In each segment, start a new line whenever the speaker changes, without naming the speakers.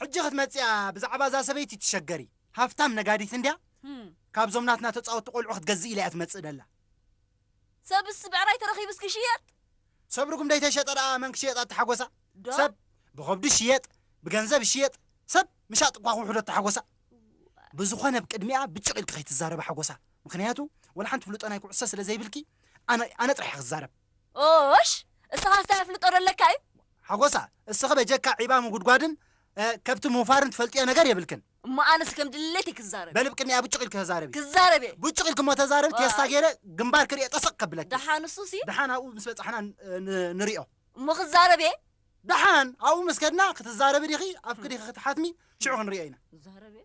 ሕጂ ክትመጽኣ ብዛዕባ እዛ ሰበይቲ ትሸገሪ ሃፍታም ነጋዲት እንድያ ካብዞም ናትና ተጻወቲ ቆልዑ ክትገዝእ ኢላ እያ ትመጽእ ደላ
ሰብስ ብዕራይ ተረኺብስ ክሽየጥ ሰብ ርጉም
ደይተሸጠ ደኣ መን ክሽየጣ ተሓጎሳ ሰብ ብኸብዲ ሽየጥ ብገንዘብ ሽየጥ ሰብ ምሻጥ እኳ ክውሕዶ ተሓጎሳ ብዝኾነ ብ ቅድሚኣ ብጭቕ ኢልኪ ከይትዛረቢ ሓጎሳ ምክንያቱ ወላ ሓንቲ ፍልጦ ናይ ኩዕሶ ስለ ዘይብልኪ ኣነ ኣነ ጥራሕ እየ ክዛረብ ኦሽ
እስኻ እንታይ ኣፍልጦ ዶ ኣለካ እዩ። ሓጎሳ
እስኺ በጀካ ዒባ ምጉድጓድን ከብቲ ምውፋርን ትፈልጥዮ ነገር የብልክን። እሞ ኣነስ ከም
ድሌተይ ክዛረብ በሊ እየ። ብቅንያ ቡጭቅ ኢልኪ ተዛረቢ።
ክዛረብ እየ። ቡጭቅ ኢልኪ እሞ ተዛረቢ ቴስታ ኣይ። ገይረ ግንባርኪ ሪኤ ጠስቅ ከብለኪ። ደሓን ንሱሲ ደሓን
ኣብኡ ምስ በጻሕና
ን ንሪኦ። እሞ ክዛረብ
እየ። ደሓን
ኣብኡ ምስ ከድና ክትዛረቢ ዲኺ ኣፍኪ ዲኺ ክትሓትሚ ሽዑ ክንሪኦ ኢና። ክዛረብ እየ።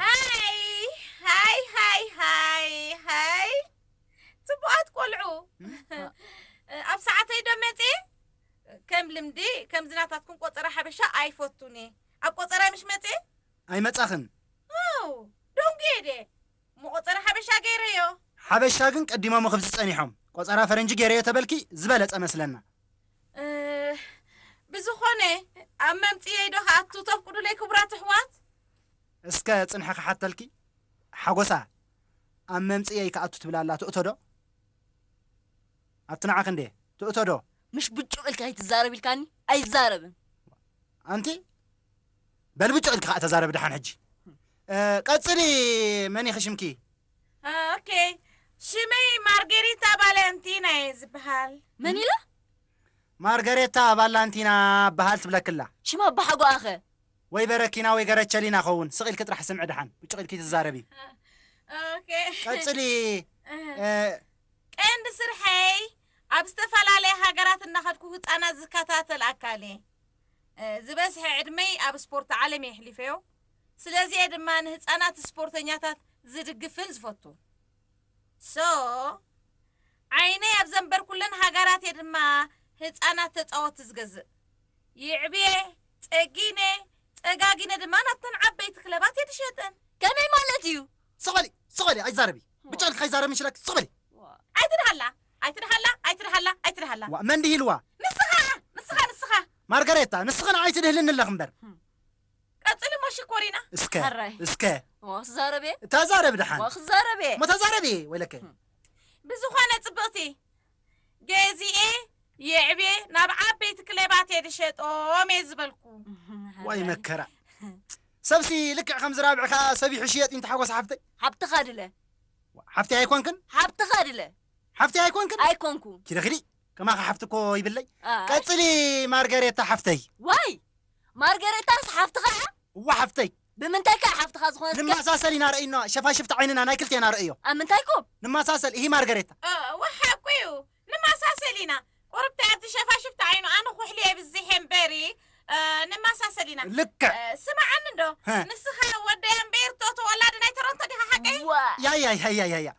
ሃይ ሃይ ሃይ ሃይ ሃይ ጽቡቓት ቆልዑ ኣብ ሰዓተይ ዶ መጽየ ከም ልምዲ ከምዚ ናታትኩም ቆጸራ ሓበሻ ኣይፈቱን እየ ኣብ ቆጸራይ ምሽ መጽየ ኣይመጻኽን
ኣው
ደንጉየ ድየ እሞ ቆጸራ ሓበሻ ገይረዮ ሓበሻ ግን
ቀዲሞም ኽብዚ ጸኒሖም ቆጸራ ፈረንጂ ገይረዮ ተበልኪ ዝበለጸ መስለና
እ፣ ብዝኾነ ኣብ መምጽየይ ዶ ከኣቱ ተፍቅዱለይ ክቡራት ኣሕዋት እስከ
ጽንሒ ክሓተልኪ ሓጎሳ ኣብ መምጽኢየይ ክኣቱ ትብል ኣላ ትእቶ ዶ ኣብቲ ንዓኺ እንድየ ትእቶ ዶ። ምሽ ብጩቕ
ኢልካ ኣይትዛረብ ኢልካኒ ኣይዛረብን። ኣንቲ
በል ብጩቕ ኢልኪ ከኣ ተዛረቢ ደሓን ሕጂ ቀጽሊ መን ኢኺ ሽምኪ። ኦኬ
ሽመይ ማርጌሪታ ባልያንቲና እየ ዝብሃል። መን ኢላ?
ማርገሬታ
ባላንቲና እብሃል ትብለኪ ኣላ። ሽም ኣባሓጎኣ'ኸ?
ወይ በረኪና
ወይ ገረቸሊና ከውን ስቅ ኢልኪ ጥራሕ ስምዒ ድሓን ብጩቅ ኢልኪ ትዛረቢ
ቀፅሊ ቀንዲ ስርሐይ ኣብ ዝተፈላለየ ሃገራት እናኸድኩ ህፃናት ዝከታተል ኣካል እየ ዝበዝሐ ዕድመይ ኣብ ስፖርት ዓለም እየ ኣሕሊፈዮ ስለዚ እየ ድማ ንህፃናት ስፖርተኛታት ዝድግፍን ዝፈቱ ሶ ዓይነይ ኣብ ዘንበርኩለን ሃገራት እየ ድማ ህፃናት ተፃወቲ ዝገዝእ የዕብየ፣ ጸጊነ፣ ጸጋጊነ ድማ ናብተን ዓበይቲ ክለባት እየ ድሸጠን። ከመይ ማለት
እዩ? ስቕ በሊ ስቕ በሊ
ኣይትዛረቢ ብጫ ኢልኪ ከይዛረብን ሽለክ ስቕ በሊ። ኣይትድሃላ ኣይትድሃላ
ኣይትድሃላ ኣይትድሃላ። ዋእ መን ድሂልዋ?
ንስኻ እያ ንስኻ
ንስኻ። ማርጋሬታ
ንስኺ ንዓይ ትድህልኒ ኣለኺ እምበር። ቀጽሊ
እሞ ሽኮሪና። እስከ ሕራይ። እስከ
እሞ ክዛረብ
እየ ተዛረቢ እሞ ድሓን።
ክዛረብ እየ እሞ ተዛረቢ
ወይለከ።
ብዝኾነ
ጽብቕቲ ገዚኤ የዕብየ ናብ ዓበይቲ ክለባት እየ ድሸጦም እየ ዝበልኩ። ዋይ መከራ
ሰብሲ ልክዕ ከምዚ ራብዒ ከኣ ሰብ ይሕሽየጥ ኢንተ ሓጎስ ሓፍተይ። ሓብትኻ ድለ። ሓፍተይ ኣይኮንክን? ሓብትኻ ድለ።
ሓፍተይ ኣይኮንክን?
ኣይኮንኩ። ኪዲ ኪዲ
ከማኺ
ሓፍቲ እኮ ይብለይ። ቀጽሊ ማርገሬታ ሓፍተይ። ዋይ
ማርገሬታስ ሓፍትኻ እያ? እወ ሓፍተይ።
ብምንታይ ከ ሓፍትኻ
ዝኾነት ከ። ንመሳሰል ኢና ረእዩና
ሸፋሽፍቲ ዓይንና ናይ ክልቴና ረእዮ። ኣብ ምንታይ ኮ። ንመሳሰል
እሂ
ማርገሬታ። እወ ሓቁ ዩ
ንመሳሰል ኢና። ቁርብተይ ኣቲ ሸፋሽፍቲ ዓይኑ ኣነ ኩሕሊ የብዝሕ እየ እምበሪ ንመሳሰል ኢና። ልክዕ።
ስማዓኒ እንዶ
ንስኻ ወደይ ኣምበይርቶ ተወላዲ ናይ ተሮንቶ ዲኻ ሓቀይ። እዋእ። ያያይ ሃያይ ሃያ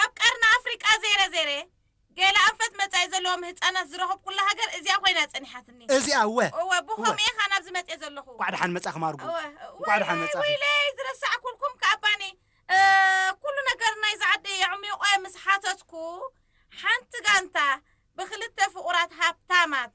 ኣብ ቀርኒ ኣፍሪቃ ዘይረ ዘይረ ገለ ኣንፈት መጻኢ ዘለዎም ህጻናት ዝረኸብኩላ ሃገር እዚኣ ኮይና ጸኒሓትኒ። እዚኣ እወ እወ እወ።
ብኸምኡ ኢየ ከኣ
ናብዚ መጽየ ዘለኹ። እንቋዕ ደሓን መጻኺ ማርጉ
እወ እንቋዕ ደሓን ወይለይ መጻኺ። ወይለይ ዝረሳዕኩልኩም
ከኣ ባኒ ኩሉ ነገር ናይዚ ዓዲ የዕሚቖ ምስ ሓተትኩ ሓንቲ ጋንታ ብኽልተ ፍቑራት ሃብታማት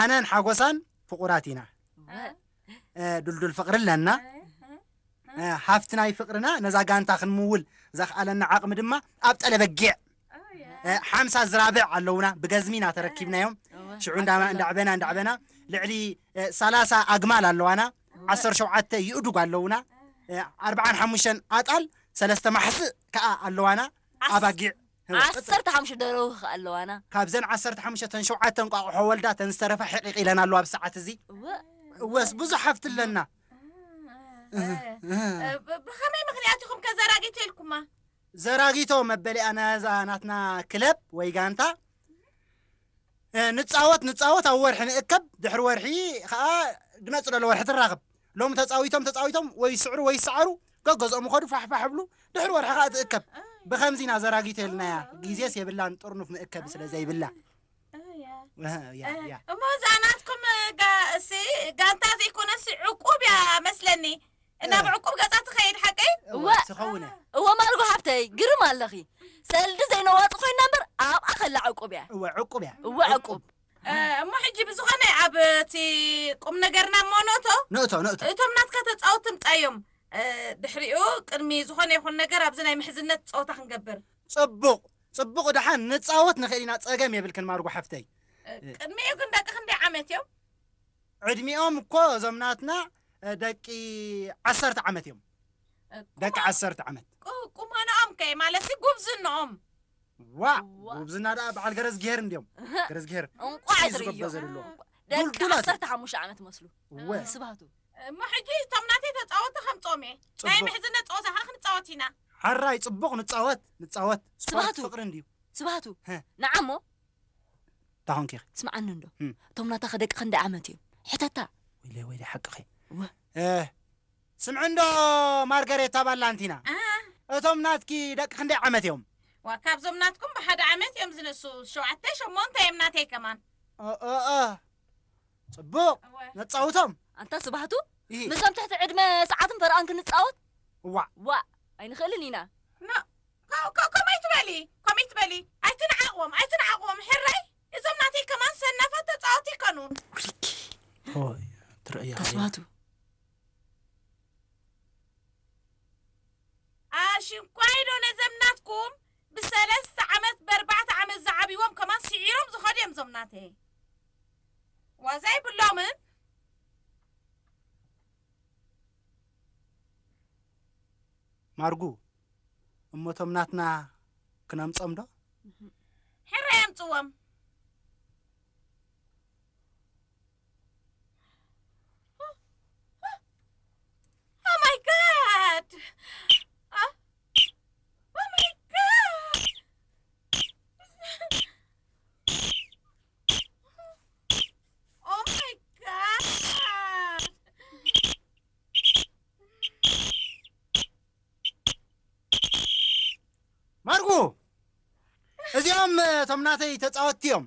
ኣነን ሓጎሳን ፍቑራት ኢና ዱልዱል ፍቕሪ ኣለና ሃፍቲ ናይ ፍቕርና ነዛ ጋንታ ክንምውል ዘኽኣለና ዓቕሚ ድማ ኣብ ጠለ በጊዕ ሓምሳ ዝራብዕ ኣለውና ብገዝሚ ኢና ተረኪብናዮም ሽዑ እንዳዕበና እንዳዕበና ልዕሊ ሰላሳ ኣግማል ኣለዋና ዓሰርተ ሸውዓተ ይእዱግ ኣለውና ኣርብዓን ሓሙሽተን ኣጣል ሰለስተ ማሕስእ ከዓ ኣለዋና ኣባጊዕ ዓሰርተ ሓሙሽተ
ደርሁ ከኣ ኣለዋና። ካብዘን ዓሰርተ ሓሙሽተ
እተን ሸውዓተ እንቋቑሖ ወልዳ እተን ዝተረፋ ሒቒቕ ኢለን ኣለዋ ኣብዚ ሰዓት እዚ። እወ። እወስ ብዙሕ ሃፍቲ ኣለና።
ብኸመይ ምኽንያት ኢኹም ከ ዘራጊቶ ኢልኩማ? ዘራጊቶ
መበሊኣ ናዛ ናትና ክለብ ወይ ጋንታ ንጻወት ንጻወት ኣብ ወርሒ ንእከብ ድሕሪ ወርሒ ከኣ ድመጽእ ደሎ ወርሒ ትራኽብ ሎሚ ተጻዊቶም ተጻዊቶም ወይ ይስዕሩ ወይ ይሰዓሩ ገገዝኦም ይኸዱ ፋሕ ፋሕ ይብሉ ድሕሪ ወርሒ ከኣ ትእከብ ብኸምዚ ኢና ዘራጊተልናያ ግዜስ የብላን ጥርኑፍ መእከቢ ስለ ዘይብላ እሞ እዛ
ናትኩም ጋንታ ዘይኮነሲ ዕቁብ እያ መስለኒ እናብ ዕቁብ ገጻ ትኸይድ ሓቀይ? እወ ትኸውን እያ። እወ
ማርጎ ሓፍተይ
ግርም ኣለኺ ሰልዲ ዘይነዋጽ ኮይና እምበር ኣብኣ ከላ ዕቁብ እያ። እወ ዕቁብ እያ። እወ ዕቁብ።
እሞ ሕጂ
ብዝኾነ ኣብ እቲ ቁም ነገርና እሞ ንእቶ። ንእቶ ንእቶ። እቶም ናትካ ተጻወቲ እምጻዮም ድሕሪኡ ቅድሚ ዝኾነ ይኹን ነገር ኣብዚ ናይ ምሕዝነት ጸወታ ክንገብር። ጽቡቕ
ጽቡቕ ደሓን ንጻወት ንኽእል ኢና ጸገም የብልክን ማርጎ ሓፍተይ። ቅድሚኡ
ግን ደቂ ክንደይ ዓመት እዮም? ዕድሚኦም
እኮ እዞም ናትና ደቂ ዓሰርተ ዓመት እዮም ደቂ ዓሰርተ ዓመት ቁመንኦም
ከ ማለትሲ ጉብዝንኦም ዋእ
ጉብዝና ደኣ በዓል ገረዝግሄር እንድዮም ገረዝግሄር እንቋዕ ዝርዮ
ደቂ ዓሰርተ ሓሙሽተ ዓመት መስሉ ስባቱ እሞ ሕጂ
እቶም ናተይ ተፃወቲ ከምፆም እየ ናይ ምሕዝነ ፀወታ ከዓ ክንፃወት ኢና ሓራይ ፅቡቕ
ንፃወት ንፃወት ስባቱ ፍቅሪ
እንድዩ ስባቱ ንዓሞ
እንዳ ኾንኪ ኢኺ። ስምዓኒ እንዶ
እቶም ናታኺ ደቂ ክንደይ ዓመት እዮም? ሕተታ። ወይለይ ወይለይ ሓቅኺ
እህ። ስምዒ እንዶ ማርገሬታ ባላንቲና እቶም ናትኪ ደቂ ክንደይ ዓመት እዮም? ዋእ ካብዞም ናትኩም
ብሓደ ዓመት እዮም ዝንእሱ ሸውዓተ ሸሞንተ እዮም ናተይ ከማን። እእእእህ
ጽቡቕ ነጻውቶም። ኣንታ ስብሃቱ
ምስዞም ትሕቲ ዕድመ ሰዓትን ፈረቓን ክንጻወት? ዋእ። ዋእ ኣይንኽእልን ኢና። ኖእ
ከምኡ ኣይትበሊ ከምኡ ኣይትበሊ ኣይትንዓቅዎም ኣይትንዓቅዎም ሕራይ እዞም ናተይ ከማን ሰናፋት ተጻወቲ ይከኑ ኩልኪ
ሆይ ትርእያ ሃየ ተስፋቱ
ኣሽንኳይ ዶ ነዘም ናትኩም ብሰለስተ ዓመት በርባዕተ ዓመት ዝዓብዎም ከማን ስዒሮም ዝኸዱ እዮም እዞም ናተይ ዋዛ ይብሎምን
ማርጉ እሞ እቶም ናትና ክነምጾም ዶ? ሕራይ
ኣምጽዎም።
ማርቁ እዚኦም እቶም ናተይ ተፃወትቲ እዮም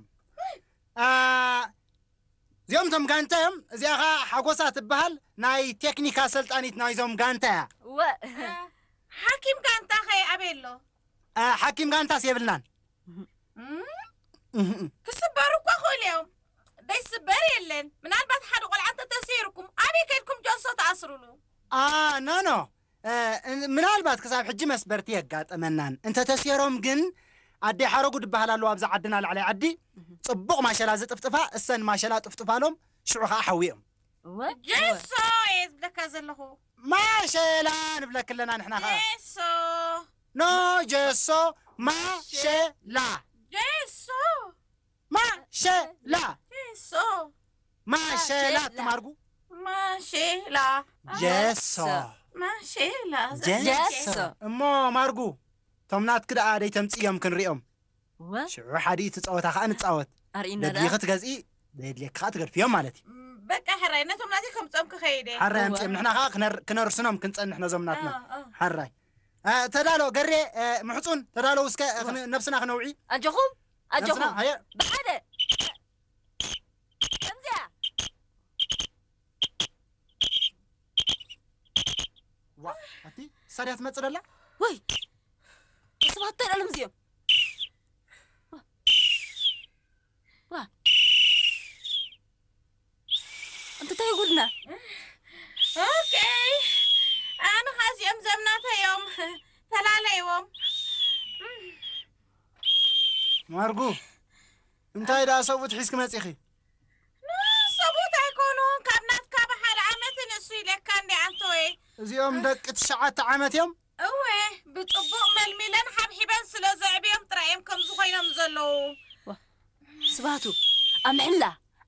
እዚኦም እቶም ጋንታ እዮም እዚኣ ከዓ ሓጎሳ ትበሃል ናይ ቴክኒክ ኣሰልጣኒት ናይዞም ጋንታ እያ ወ
ሓኪም ጋንታ ኸ ኣበይ ኣሎ ሓኪም
ጋንታስ የብልናን
ክስበሩ እኳ ክእሉ እዮም ደይስበር የለን ምናልባት ሓደ ቆልዓ እንተተሰይርኩም ኣበይ ከድኩም ጆሶ ተኣስርሉ ኣኣ ኖኖ
ምናልባት ክሳብ ሕጂ መስበርቲ የጋጠመናን እንተተሴሮም ግን ኣደይ ሓረጉ ድበሃል ኣለዋ ኣብዚ ዓድና ላዕለይ ዓዲ ጽቡቕ ማሸላ ዝጥፍጥፋ እሰን ማሸላ ጥፍጥፋሎም ሽዑ ከኣ ሓውየም እወ ጀሶ
እየ ዝብለካ ዘለኹ። ማሸላ
ንብለኪ ኣለና ንሕና ከኣ ጀሶ
ኖ
ጀሶ ማሸላ። ጀሶ። ማሸላ ሶ
ማሸላ
ትማርጉ ማሼላ
ጀሶ ማሼላ ጀሶ
እሞ ማርጉ
ቶም ናትኪ ደኣ ደይተምጽእዮም ክንሪኦም እወ ሽዑ ሓዲኡ ትጻወታ ከኣ ንጻወት ኣርእና ደኣ ደድሊኺ ትገዝኢ ደድልየኪ ከኣ ትገድፍዮም ማለት እዩ በቃ ሕራይ
ነቶም ናተይ ከምጾም ክኸይድ እየ ሓራይ እወ። ኣምጽኦም ንሕና ከኣ
ክነር- ክነርስኖም ክንጸንሕ ነዞም ናትና እ፣ እ። ሓራይ እ፣ ተዳሎ ገሬ እ፣ ምሕጹን ተዳለው እስከ እ፣ ክን- ነብስና ክነውዒ ኣጆኹም
ኣጆኹም ብሓደ ከምዚያ
ዋ ኣቲ ሳድያ ትመጽእ ደላ ወይ
ሰባት እንታይ ደኣሎም እዚኦም እንተ ታይ ጉድና ኦኬይ ኣነ
ኸኣ እዚኦም ዘምናተዮም ተላለይዎም
ማርጉ እንታይ ደኣ ሰብኡት ሒዝኪ መጺኺ
ሰብኡት ኣይኮኑን ካብ ናትካ ብሓደ ዓመት ንእሱ ኢለካ እንዲ ኣንተወይ እዚኦም ደቂ
ትሽዓተ ዓመት እዮም እወ
ብጽቡቕ መልሚለን ሓብሒበን ስለ ዘዕብዮም ጥራይ እዮም ከምዚ ኮይኖም ዘለዉ።
ስብሃቱ ኣምሕላ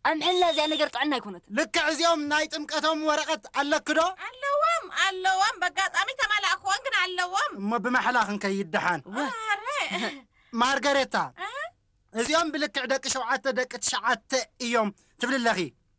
ኣምሕላ እዚኣ ነገር ጥዕና ኣይኮነትን። ልክዕ እዚኦም ናይ
ጥምቀቶም ወረቀት ኣለኪ ዶ? ኣለዎም ኣለዎም
በጋጣሚ ተማላእክዎን ግን ኣለዎም። እሞ ብማሕላ ክንከይድ
ደሓን። ኣረ። ማርገሬታ እዚኦም ብልክዕ ደቂ ሸውዓተ ደቂ ትሽዓተ እዮም ትብሊ ኣለኺ።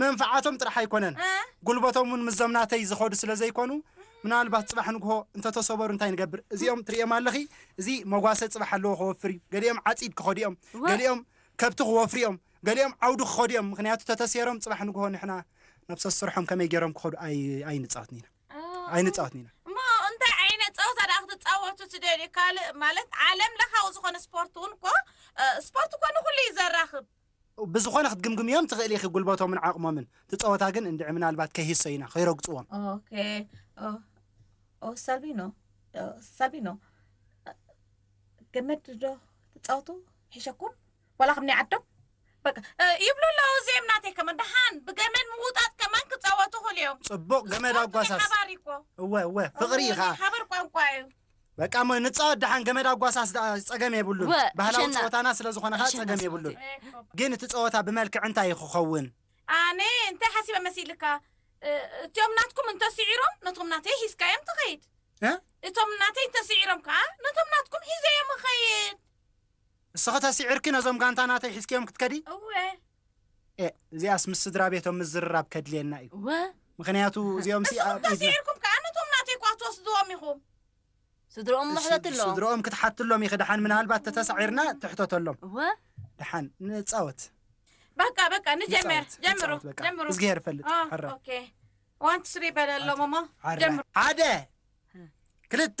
መንፍዓቶም
ጥራሕ ኣይኮነን ጉልበቶም ውን ምስዞም ናተይ ዝኸዱ ስለ ዘይኮኑ ምናልባት ጽባሕ ንግሆ እንተ ተሰበሩ እንታይ ንገብር እዚኦም ትርእዮም ኣለኺ እዚ መጓሰ ጽባሕ ኣለዎ ክወፍር እዩ ገሊኦም ዓጺድ ክኸዱ እዮም ገሊኦም ከብቲ ክወፍሩ እዮም ገሊኦም ዓውዲ ክኸዱ እዮም ምኽንያቱ ተተሴሮም ጽባሕ ንግሆ ንሕና ነብሰ ዝሰርሖም ከመይ ገይሮም ክኸዱ ኣይንጻወትን ኢና ኣይንጻወትን ኢና ጸወታ
ደኣ ክትጻወቱ ትደልዩ ካልእ ማለት ዓለም ለኻዊ ዝኾነ ስፖርት እውን እኮ ስፖርት እኮ ንኹሉ እዩ ዘራኽብ ብዝኾነ
ክትግምግምዮም ትኽእሊ ኢኺ ጉልበቶምን ዓቕሞምን። እቲ ጸወታ ግን እንድዒ ምናልባት ከይህሰዩና፣ ከይረግጽዎም። ኦኬ
ኦ ሳቢኖ ሳቢኖ ገመድ ዶ ትጻወቱ ሒሸኩም ዋላ ከም ናይ ዓዶም በቃ ይብሉ ኣለዉ እዚኦም ናተይ ከማን ደሓን ብገመድ ምውጣጥ ከማን ክጻወቱ ይኽእሉ እዮም ጽቡቕ ገመድ ስፖርት ኣጓሳስ።
ሓባር እዩ እኮ እወ እወ ፍቕሪ እዩ ኸኣ ሓባር ቋንቋ እዩ
በቃ እሞ
ንጻወት ደሓን ገመድ ኣጓሳስ ደኣ ጸገም የብሉን ወእ ባህላዊ ኣሸና ጸወታና ስለ ዝኾነ ከኣ ኣሸና ጸገም ስማዕቲ የብሉን ግን እቲ ጸወታ ብመልክዕ እንታይ እዩ ክኸውን? ኣነ እንታይ
ሓሲበ መሲልካ እ እቲኦም ናትኩም እንተ ሲዒሮም ነቶም ናተይ ሒዝካዮም ትኸይድ እ እቶም
ናተይ እንተ
ሲዒሮም ከኣ ነቶም ናትኩም ሒዘዮም እኸይድ። ንስኺ
ተሲዕርኪ ነዞም ጋንታ ናተይ ሒዝክዮም ክትከዲ? እወ።
ኤእ
እዚኣስ ምስ ስድራቤቶም ምዝርራብ ከድልየና እዩ። እወ። ምኽንያቱ እዚኦምሲ ንስኹም ኣብ ኢድና ተሲዕርኩም ከኣ
ነቶም ናተይ እኳ ክትወስድዎም ኢኹም። ስድርኦም
እሞ ሕተትሎም። ስድርኦም ክትሓትሎም ኢኺ
ደሓን ምናልባት ተተሳዒርና ትሕተተሎም። እወ። ደሓን ንጻወት። በቃ በቃ
ንጀምር። ንጻወት፣ ጀምሩ ንጻወት በቃ። ጀምሩ። እዝግሄር ይፈልጥ። ኦ፣
ሕራይ። ኦኬ
ዋን ቱ ስሪ በለሎም እሞ ሓደ ጀምሩ። ሓደ
ክልተ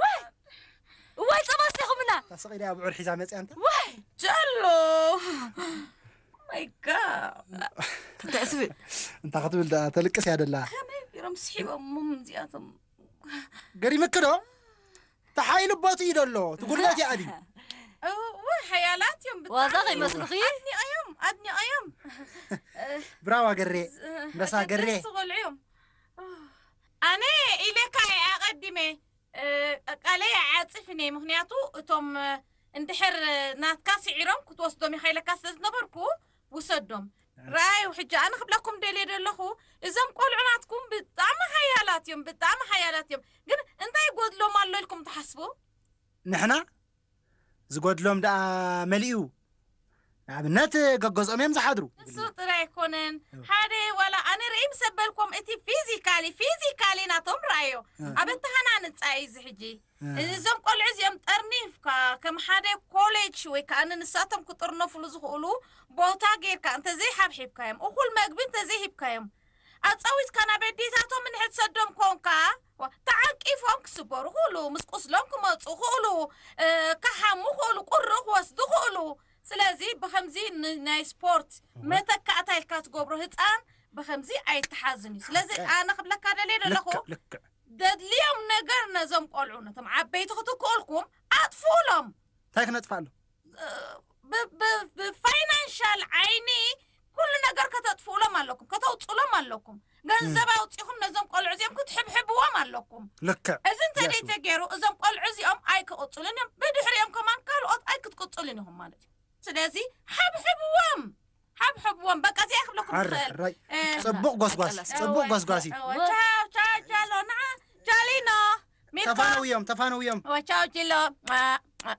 ዋይ እዋይ ጸባ ስቲኹምና ታስቕኢዳ ኣብዑር ሒዛ መጽያ
እንተ ዋይ ጀሎ
ማይ ጋድ እንታይ ትብል
እንታ ክትብል
ደኣ ተልቅስ እያ ደላ ከመይ ቢሮም
ስሒቦሞም እዚኣቶም
ገሪምኪ ዶ ተሓይሉ ቦት እዩ ደሎ ትጉለት እያ ኣቢ እወ
ሓያላት እዮም ብጣዕሚ። ዋዛ ከይመስልኺ
ኣድኒቐዮም ኣድኒቐዮም
ብራዋ ገሬ መሳ ገሬ ደስ ቆልዑ እዮም
ኣነ ኢለካ እየ ኣቀዲመ ቃለይ ኣይዓጽፍን እየ ምክንያቱ እቶም እንድሕር ናትካ ስዒሮም ክትወስዶም ኢካ ኢለካ ስለ ዝነበርኩ ውሰዶም ረኣዩ ሕጂ ኣነ ክብለኩም ደልየ ደለኩ እዞም ቆልዑ ናትኩም ብጣዕሚ ሓያላት እዮም ብጣዕሚ ሓያላት እዮም ግን እንታይ ይጎድሎም ኣሎ ኢልኩም ትሓስቡ ንሕና
ዝጎድሎም ደኣ መሊኡ ንኣብነት ገገዝኦም እዮም ዝሓድሩ። ንሱ ጥራይ ኣይኮነን
ሓደ ዋላ ኣነ ርእይ ምስ ኣበልኮም እቲ ፊዚካሊ ፊዚካሊ ናቶም ረኣዮ ኣብ ኣተሃናንጻ እዩ እዚ ሕጂ እዞም ቆልዑ እዚኦም ጠርኒፍካ ከም ሓደ ኮሌጅ ወይ ከኣ ንሳቶም ክጥርነፍሉ ዝኽእሉ ቦታ ጌርካ እንተዘይ ሓብሒብካዮም እኹል መግቢ እንተዘይ ሂብካዮም ኣጻዊትካ ናብ ኣዴታቶም እንሕትሰዶም ኮንካ ተዓንቂፎም ክስበሩ ክእሉ፣ ምስ ቁስሎም ክመጹ ክእሉ፣ ክሓሙ ክእሉ፣ ቁሪ ክወስዱ ክእሉ። ስለዚ ብኸምዚ ንናይ ስፖርት መተካእታ ኢልካ ትገብሮ ህጻን ብኸምዚ ኣይተሓዝን እዩ። ስለዚ ኣነ ክብለካ ደልየ ደለኹ
ደድልዮም
ነገር ነዞም ቆልዑ ነቶም ዓበይቲ
ክትክኡልኩም
ኣጥፍኡሎም። እንታይ
ክነጥፍኣሎም?
ብፋይናንሻል ዓይኒ ኩሉ ነገር ከተጥፍኡሎም ኣለኩም ከተውፅሎም ኣለኩም ገንዘብ ኣውፂኹም ነዞም ቆልዑ እዚኦም ክትሕብሕብዎም ኣለኩም ልክዕ እዚ እንተደይ
ተገይሩ
እዞም ቆልዑ እዚኦም ኣይክቕፅሉን እዮም ብድሕሪኦም ከማን ካልኦት ኣይክትቅፅሉን ኢኹም ማለት እዩ ስለዚ ሓብሕብዎም ሓብሕብዎም በቃ እዚኣ ክብለኩም ትኽእል ራይ
ፅቡቅ ጎስጓስ ፅቡቅ ጎስጓስ እዩ ቻው ቻው
ቻሎ ንዓ ቻሊኖ ሚልኮ ተፋነውዮም ተፋነውዮም
ቻው ቺሎ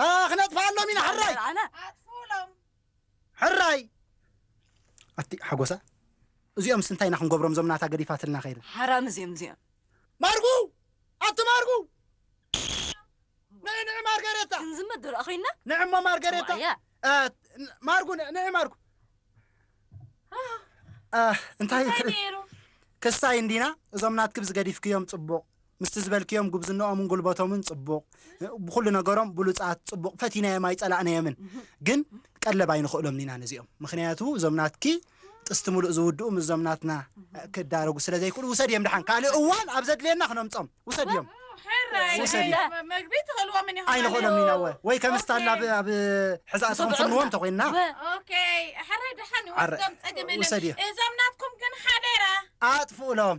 ኣታ ክነጥፍኣሎም ኢና ሕራይ ኣጥፍኡሎም
ሕራይ
ኣቲ ሓጎሳ እዚኦምስ እንታይ ኢና ክንገብሮም እዞም ናታ ገዲፋትልና ከይዳ ሓራም እዚኦም እዚኦም
ማርጉ
ኣቲ ማርጉ ንዒ ንዒ ማርገሬታ ክንዝመድ ዶ ኮይና
ንዒ እሞ ማርገሬታ
ማርጉ ንዒ ማርጉ እንታይ ክሳይ እንዲና እዞም ናትክብ ዝገዲፍክዮም ፅቡቕ ምስቲ ዝበልክዮም ጉብዝነኦምን ጉልበቶምን ጽቡቕ ብኹሉ ነገሮም ብሉጻት ጽቡቕ ፈቲናዮም ኣይጸላእናዮምን ግን ቀለብ ኣይንኽእሎምን ኢና ነዚኦም ምኽንያቱ እዞም ናትኪ ጥስቲ ምሉእ ዝውድኡ ምስ እዞም ናትና ክዳረጉ ስለ ዘይክእሉ ውሰድዮም ድሓን ካልእ እዋን ኣብ ዘድልየና ክነምጾም ውሰድዮም
መግቢ ትኽእልዎም ኢኹም ኣይንኽእሎም ኢና ወ ወይ
ከም ስታላ ኣብ- ኣብ ሕዛእ ስኽንፍንዎ እንተኮይንና ኦኬ
ሕራይ ድሓን ዓረ፣ ይወስዶም ጸገም የለን ውሰድዮ። እዞም ናትኩም ግን ሓደራ ኣጥፍኡሎም